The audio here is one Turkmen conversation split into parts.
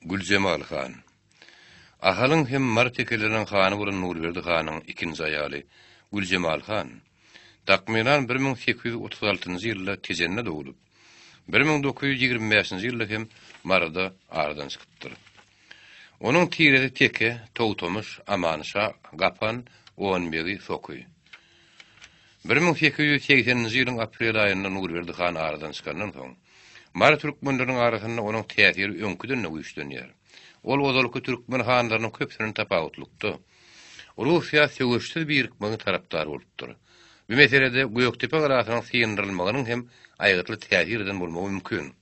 Güljemal han. Ahalyň hem Mary tekeleriň hany bolan Nurberdi hanyň ikinji aýaly Güljemal han, takmynan bir müň sekiz ýüz otuz altynjy ýylda Tejende doglup, bir müň dokuz ýüz ýigrimi bäşinji ýylda hem Maryda aradan çykypdyr. Onuň tiresi Teke, Togtamyş, Aman şa, Gapan, Onbegi, Soky. Bir müň sekiz ýüz segseninji ýylyň aprel aýynda Nurberdi han aradan çykandan soň, Mary türkmenleriniň arasynda onuň täsiri öňküden-de güýçlenýär. Ol ozalky türkmen hanlarynyň köpüsinden tapawutlykda, Russiýa söweşsiz birikmegiň tarapdary bolupdyr. Bu meselede Gökdepe galasynyň syndyrylmagynyň hem aýgytly täsir eden bolmagy mümkin.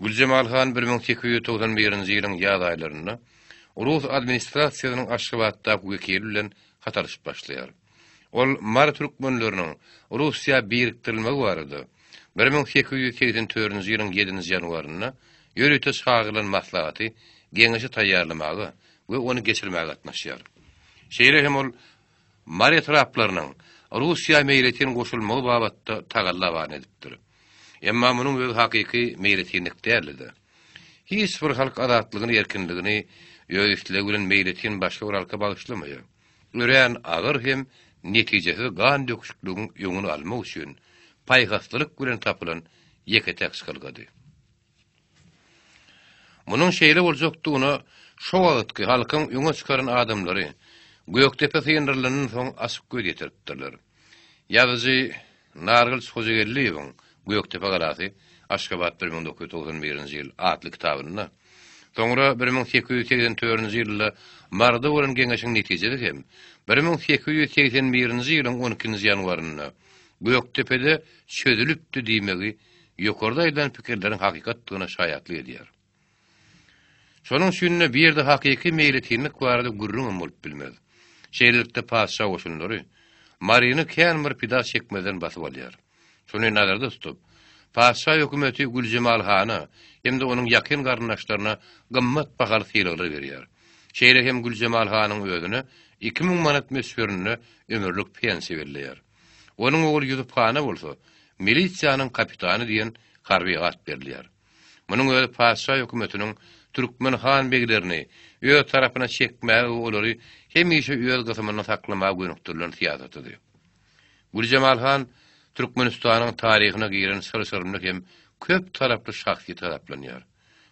Güljemal han bir müň sekiz ýüz togsan birinji ýylyň ýaz aýlarynda rus administrasiýasynyň Aşgabatdaky wekili bilen hat alyşyp başlaýar. Ol mary türkmenleriniň Russiýa birikdirilmegi barada bir müň sekiz ýüz segsen törünji ýylyň ýedinji ýanwarynda ýörite çagyrylan maslahaty, geňeşi taýýarlamaga we ony geçirmäge gatnaşýar. Şeýle hem ol mary etraplarynyň Russiýa meýletin goşulmagy babatda tagalla beýan edipdir. Emma munuň özi hakyky meýletinlik däldi-de. Hiç bir halk azatlygyny, erkinligini öz islegi bilen meýletin başga bir halka bagyşlamaýar. Örän agyr hem netijesiz gan döküşikligiň öňüni almak üçin paýhaslylyk bilen tapylan ýeke-täk çykalgady. Munuň şeýle boljakdygyna şo wagtky halkyň öňe çykaran adamlary Gökdepe syndyrylandan soň açyk göz ýetiripdirler. Ýazyjy Nargyls Hojageldiýewiň Gökdepe galasy, Aşgabat bir müň dokuz ýüz togsan birinji ýyl atly kitabynda, soňra bir müň sekiz ýüz segsen törünji ýylda Maryda bolan geňeşiň netijede hem bir müň sekiz ýüz segsen birinji ýylyň on ikinji ýanwarynda Gökdepede çözülipdi diýmegi ýokarda aýdan pikirleriň hakykatdygyna şaýatlyk edýär. Şonuň üçin-de bu ýerde hakyky meýletinlik barada gürrüňem bolup bilmez. Şeýlelikde patyşa goşunlary Maryny kän bir pida çekmezden basyp alýar. Şuny nazarda tutup, patyşa hökümeti Güljemal hana hem-de onuň ýakyn garyndaşlaryna gymmat bahaly sylaglar berýär. Şeýle hem Güljemal hanyň özüne iki müň manat möçberinde ömürlik pensiýa belleýär. Onuň ogly Ýusup hana bolsa Milisiýanyň kapitany diýen harby at berilýär. Munuň özi patyşa hökümetiniň türkmen han-beglerini öz tarapyna çekmäge we olary hemişe öz gysymynda saklamaga gönükdirilen syýasatydy. Güljemal han Türkmenistanyň taryhyna giren çyr-çyrymly hem köp taraply şahsyýet hasaplanýar.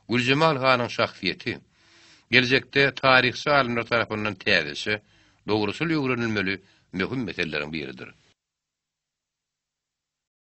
Güljemal hanyň şahsyýeti geljekde taryhçy alymlar tarapyndan täzeçe, dogruçyl öwrenilmeli möhüm meseleleriň biridir.